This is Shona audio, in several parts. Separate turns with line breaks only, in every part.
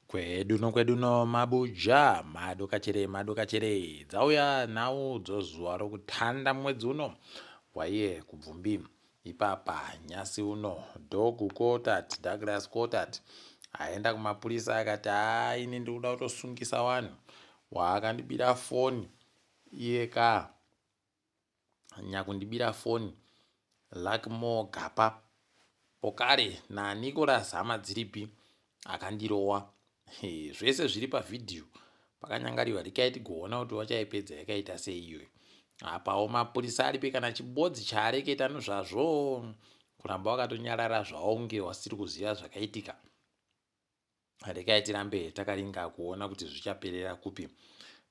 Kwedu no kwedu no mabuja mado kachere mado kachere dzauya nhau dzozuva rokutanda mwedzi uno waiye kubvumbi ipapa nyasi uno dhogu kotat Douglas kotat aenda kumapurisa akati haa ini ndikuda kutosungisa wanhu waakandibira foni iye kaa nyakundibira foni luckmore gapa pokare nanicolas hama dziripi akandirowa hey, zvese zviri pavhidhiyo pakanyangariwa rikai tigoona kuti vachaipedza yakaita sei iyoyo apawo mapurisa aripi kana chibodzi chaareketa nozvazvo kuramba wakatonyarara zvaunge wasiri kuziva zvakaitika Regai tirambe takaringa kuona kuti zvichaperera kupi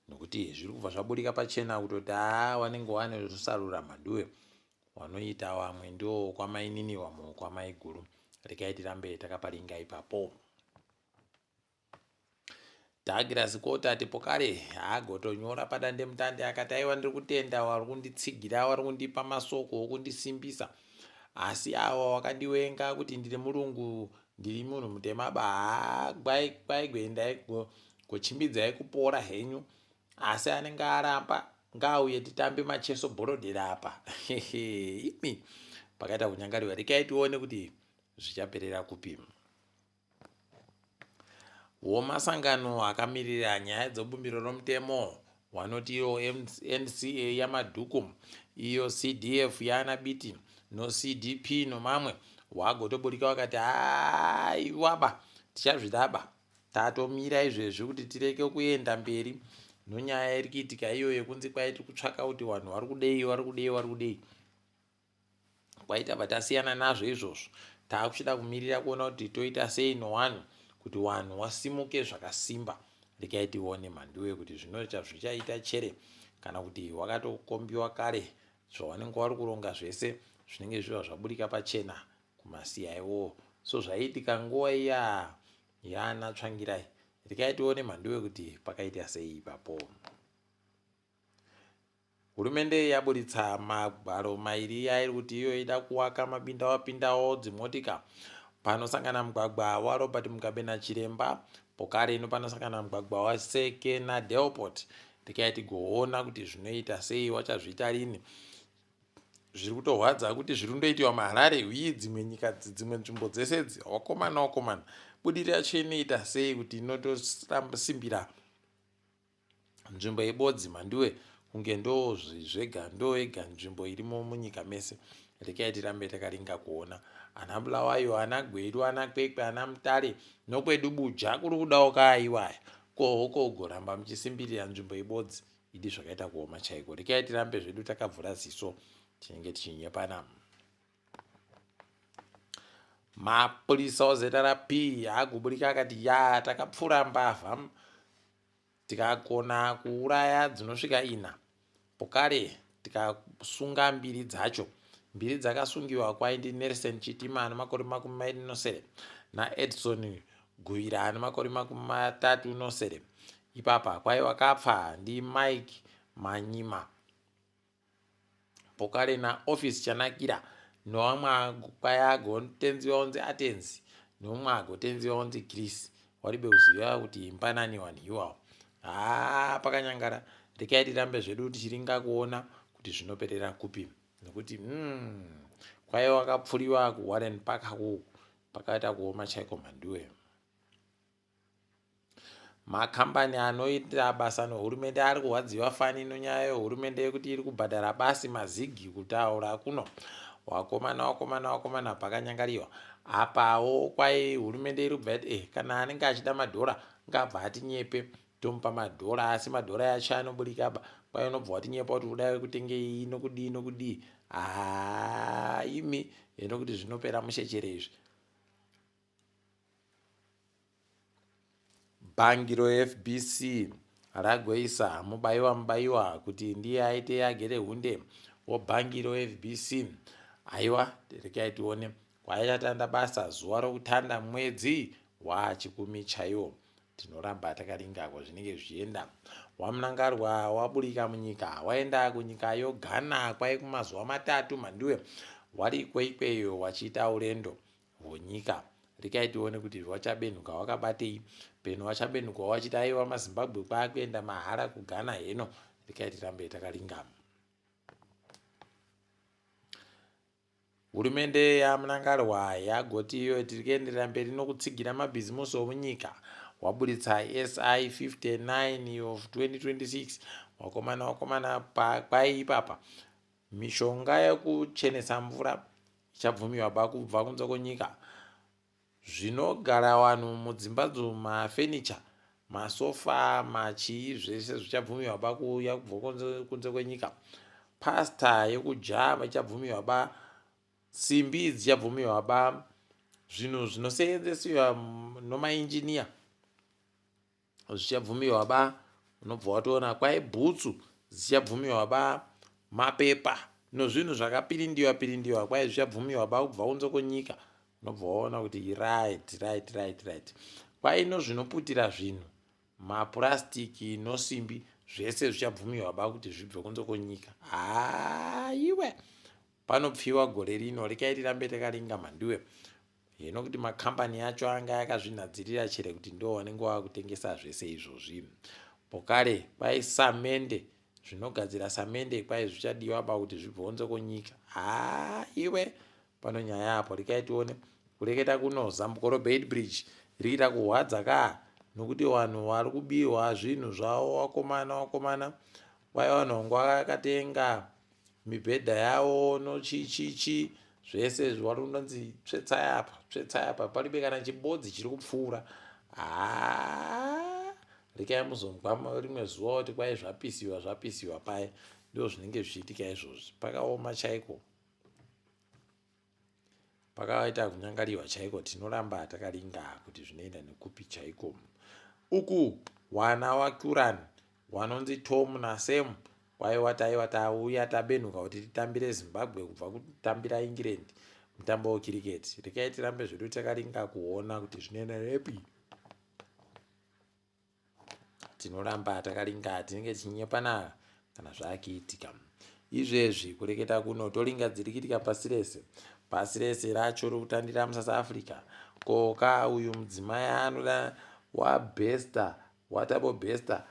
nokuti zviri kubva zvaburika pachena kutoti haa wanenge wane rusarura maduwe wanoita wamwe ndiwo kwamainini wamwe kwamaiguru regai tirambe takaparinga ipapo tagira zikoti ati pokare haagotonyora padandemutande akati aiwa ndiri kutenda wari kunditsigira wari kundipa masoko okundisimbisa asi awa wakandiwenga kuti ndiri murungu Ndiri munhu mutema ba gwai gwai gwendai gochimbidzai kupora henyu asi anenge aramba ngaauye titambe macheso borodera apa imi pakaita kunyangariwa rekai tione kuti zvichaperera kupi womasangano akamirira nyaya dzobumbiro romutemo Wanotiwo NCA yaMadhuku, iyo CDF yaana Biti noCDP nomamwe, wagotobudirika wakati haiwaba tichazvidaba tatomira izvezvi kuti tireke kuenda mberi nonyaya iri kuitika iyo yekunzi kwai tiri kutsvaka kuti vanhu vari kudei vari kudei vari kudei. kwaita bva tasiyana nazvo izvozvo taakuchida kumirira kuona kuti toita sei nowani kuti wanhu wasimuke zvakasimba regai tione mhanduwe kuti zvinoita zvichaita chere kana kuti wakatokombiwa kare zvawanenge wari kuronga zvese zvinenge zviva zvaburika pachena kumasiya iwowo so zvaiitika nguva iya yaana tsvangirai regai tione mhanduwe kuti pakaita sei ipapo Hurumende yaburitsa magwaro mairi yairi kuti iyo ida kuwaka mabinda wapindawo dzimotika panosangana mugwagwa waRobert Mugabe naChiremba pokari ino panosangana mugwagwa waSeke naDelport ndikai tigoona kuti zvinoita sei wachazviita rini zviri kutorwadza kuti zviri kundoitiwa maharare uye dzimwe nyika dzimwe nzvimbo dzese dzi wakomana wakomana budirira yacho inoita sei kuti inotosimbira nzvimbo yebodzi mhanduwe kunge ndoo zvega ndoo yega nzvimbo irimo munyika mese rekai tirambe takaringa kuona ana bulawayo ana gwedu ana kwekwe ana mutare nokwedu buja kuri kudawo kaaiwaya ko hoko ugoramba muchisimbirira nzvimbo yebodzi idi zvakaita kuoma chaiko rekai tirambe zvedu takavhura ziso tinenge tichinyepana mapurisa ozrp akuburika akati ya takapfura mbavha Tikagona kuuraya dzinosvika ina pokale tikasunga mbiri dzacho mbiri dzakasungiwa kwaindi Nelson Chitima ane makore makumi mairi nosere naEdson Guvira ane makore makumi matatu nosere. Ipapa kwaiva kapfa ndiMike Manyima. pokale na office chanakira nowamwe kwaya ago tenzi waunzi atenzi nomwe ago tenzi waunzi chris waribe kuziva kuti imba nani wani iwawo haa pakanyangara rekai tirambe zvedu tichiringa kuona kuti zvinoperera kupi nokuti mm, kwaya wakapfuriwa kuwarren park hakuku pakaita kuoma chaiko mhanduwe Makambani anoita basa nehurumende ari kurwadziwa fani inonyaya yehurumende yekuti iri kubhadhara basi mazigi kutaura kuno wakomana wakomana wakomana pakanyangariwa apawo kwai hurumende iri kubva yati eh, kana anenge achida madhora ngabva atinyepe tomupa madhora asi madhora yacho anoburikaba kwai unobva watinyepa kuti uda kutengei inokudii inokudii haa imi inokuti zvinopera mushecherezvi Bhangi reFBC ragoisa Mubaiwa Mubaiwa kuti ndiye aite agere hunde webhangi reFBC. Haiwa rekai tione kwayatanda basa zuva rokutanda mwedzi waachikumi chaiwo tinoramba takaringa kwazvinenge zvichienda wamunangarwa waburika munyika waenda kunyika yoghana kwai kumazuva matatu mhandiwe wari ikweikweyo wachiita urendo Honyika. Regai tione kuti rwaChabenhuka hwakabatei. Peno waChabenhuka wawachiti aiwa maZimbabwe kwaakuenda mahara kuGhana heno. Regai tirambe takalingama. Hurumende yaMnangarwa yagoti iyo tiri kuenderera mberi nokutsigira mabhizimusi omunyika waburitsa SI 59 of 2026 wakomana wakomana pakwai ipapa Mishonga yekuchenesa mvura ichabvumiwaba kubva kunze kwenyika. Zvinogara vanhu mudzimba dzemafenicha, masofa, machii zvese zvichabvumiwaba kuuya kubva kunze kwenyika. Pasta yekujava ichabvumiwaba, simbi dzichabvumiwaba, zvinhu zvinoseenzesiwa nomainjiniya. zvichabvumiwa ba unobva watoona kwai bhutsu dzichabvumiwa ba mapepa nozvinhu zvakapirindiwa pirindiwa kwai zvichabvumiwa ba kubva unzo konyika unobva waona kuti right right right right kwai nozvinoputira zvinhu mapurasitiki nosimbi zvese zvichabvumiwa ba kuti zvibve kunze konyika haiwe panopfiwa gore rino rekai tirambe takaringa mandiwe Hino kuti makambani acho anga yakazvinhadzirira chere kuti ndiwo wanenge wakutengesa zvese izvozvi. Pokare kwai samende zvinogadzira samende kwai zvichadiwa ba kuti zvibvonze kunyika. Haa iwe pano nyaya apo rikai tione kureketa kuno zambuko robeid bridge riita kuhwadza kaa nokuti vanhu vari kubiwa zvinhu zvavo wakomana wakomana wai vanhu vangu vakatenga mibhedha yavo no chi chi chi zvese izvi wari kunonzi tsvetsai apa tsvetsai apa paribe kana chibodzi chiri kupfuura haa rekai muzonzwa rimwe zuva kuti kwai zvapisiwa zvapisiwa paye ndo zvinenge zvichiitika izvozvi pakaoma chaiko Pakaita kunyangariwa chaiko tinoramba takaringa kuti zvinoenda nekupi chaiko. Uku wana waKuran wanonzi Tom naSam kwaiwa taiva tauya tabenuka kuti titambire Zimbabwe kubva kutambira England mutambo wecricket. Rekai tirambe zvedu takaringa kuona kuti zvinoenda nepi. tinoramba takalinga tinenge tichinyepana kana zvakiitika izvezvi kureketa kuno tolinga dziri kitika pasi rese pasi rese racho rokutandira musouth africa koka uyu mudzimai anoda wabesta watabo besta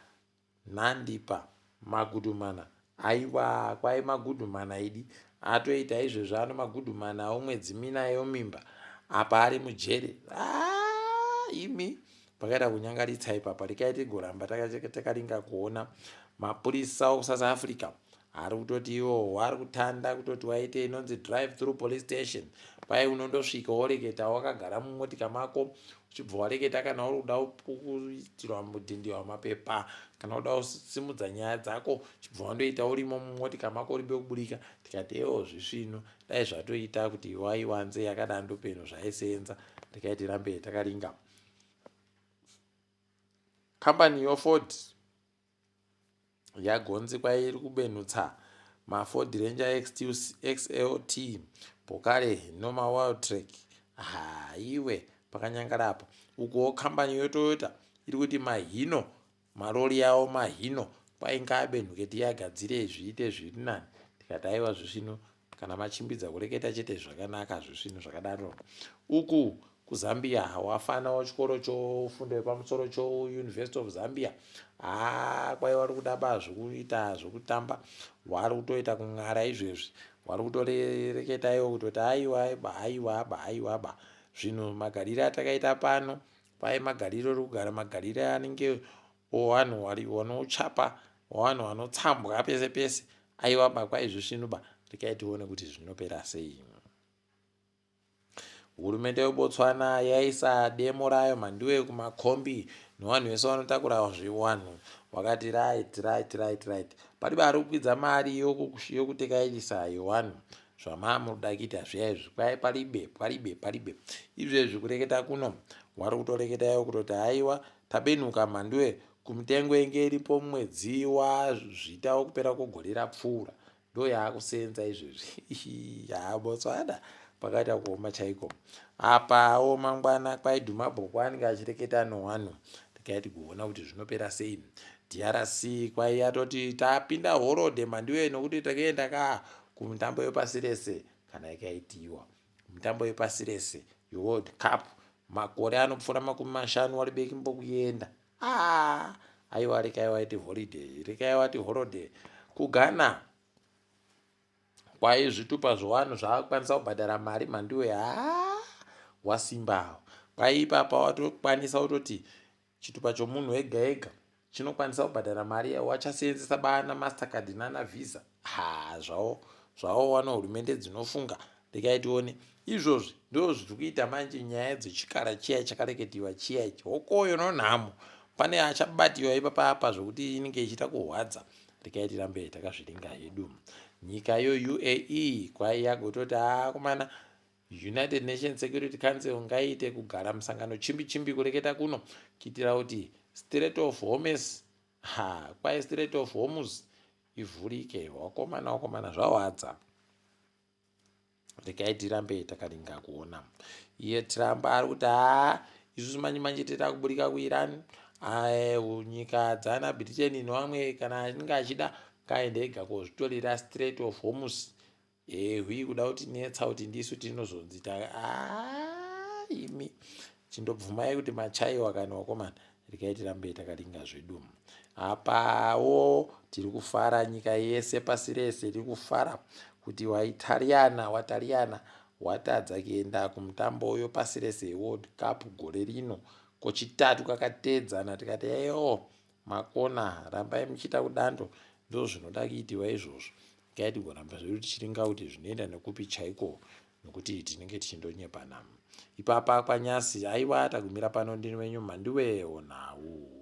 nandipa Magudumana aiwaa kwai magudumana idi atoita izvezvi ano magudumana awo mwedzi mina yomimba apa ari mujere haa imi pakaita kunyangaritsa ipapa rikai tigoramba takaringa kuona mapurisa okusouth africa ari kutoti iwowo ari kutanda kutoti waite inonzi drive through police station kwai unondosvika woreketa wakagara mumotika mako Uchibva wareketa kana uri kuda kuitirwa mudhindi wamapepa kana kuda kusimudza nyaya dzako chibva wandoita urimo mumotika mako urimbe kuburika tikati ewo zvisvino dai zvatoita kuti iwaiwanze yakada ndopenhu zvaisenza ndikaiti rambe takaringa kambani yoford yagonzi kwairi kubenutsa maford ranger xlt pokare noma world track haiwe pakanyangara apo ukuwo kambani yotoyota iri kuti mahino marori yawo mahino kwainga abenhuke tiyagadzire zviite zviri nani tikati aiwa zvisvino Kana machimbidza kureketa chete zvakanaka zvisvinu zvakadaro. Uku kuZambia wafana wachikoro chofundo yepamusoro choUniversity of Zambia haa kwai wari kuda ba zvekuita zvekutamba wari kutoita kun'ara izvezvi wari kutoreketa iwo kutoti aiwa ba aiwa ba aiwa ba zvinhu magarire atakaita pano kwai magarire uri kugara magarire anenge Wanhu wari wanouchapa wanhu wanotsambwa pese pese aiwa ba kwaizvisvinu ba regai tione kuti zvinopera sei hurumende yebotswana yaisa demo rayo mhandiwe kumakombi newanhu wese wanotakura zviwanhu wakati right right right right pari bari kukwidza mari yokutekairisa yewanhu zvamaa muri kuda kuita zviya izvi kwai paribe paribe paribe izvezvi kureketa kuno wari kutoreketayo kutoti haiwa Tabenuka mhanduwe kumitengo yenge iripo mwedzi wa Zvita wokupera kwegore rapfuura ndo yaakuseenza izvezvi haa Botswana pakaita kuoma chaiko apawo mangwana kwaidhuma bhoko anenge achireketa nowanhu regai tigoona kuti zvinopera sei drc kwaiya toti tapinda horode mhanduwe nokuti takenda ka kumutambo wepasi rese kana yakaitiwa Mutambo wepasi rese weWorld Cup makore anopfuura makumi mashanu wari bekimbo kuenda. Ah, aiwa rekai waiti holiday, rekai wati holiday. KuGhana kwaye zvitupa zvewanhu zvaakukwanisa kubhadhara mari mhandiwe haa wasimbawo kwaye ipapa watokwanisa kutoti Chitupa chomunhu ega ega chinokwanisa kubhadhara mari yavo vachaseenzesa baana mastercard nana visa haa zvavo zvavo wana hurumende dzinofunga regai tione izvozvi ndoo zviri kuita manje nyaya dzechikara chiya chakareketiwa chiya ichi hokoyo nonhamo pane achabatiwa ipapa apa zvekuti inenge ichiita kurwadza regai tirambe takazviringa hedu nyika yo uae kwaiya gototi aakomana ah, United Nations Security Council ngaiite kugara musangano chimbi chimbi kureketa kuno kuitira kuti Strait of Hormuz ha kwai Strait of Hormuz ivhurike wakomana wakomana zvawadza regai tirambe takaringa kuona iye Trump ari kuti haa isusu manje manje teta kuburika kuIran nyika dzana Britain nevamwe kana achinge achida ngaende ega kozvitorera Strait of Hormuz Ehwi kuda kuti netsa kuti ndisu tinozonzi ta ah imi chindobvumai kuti machaiwa kana wakomana rikai tirambe takalinga zvedu apawo tiri kufara nyika yese pasi rese tiri kufara kuti waitariana watariana watadza kuenda kumutambo uyo pasi rese world cup gore rino kochitatu kakatedzana tikati eyo Makona rambai muchiita kudando ndozvinoda kuitirwa izvozvo ngai tigoramba zvedu tichiringa kuti zvinoenda nekupi chaiko nokuti tinenge tichindonyepana ipapa kwanyasi haiwa tagumira pano ndini wenyu mhandiwewo nhau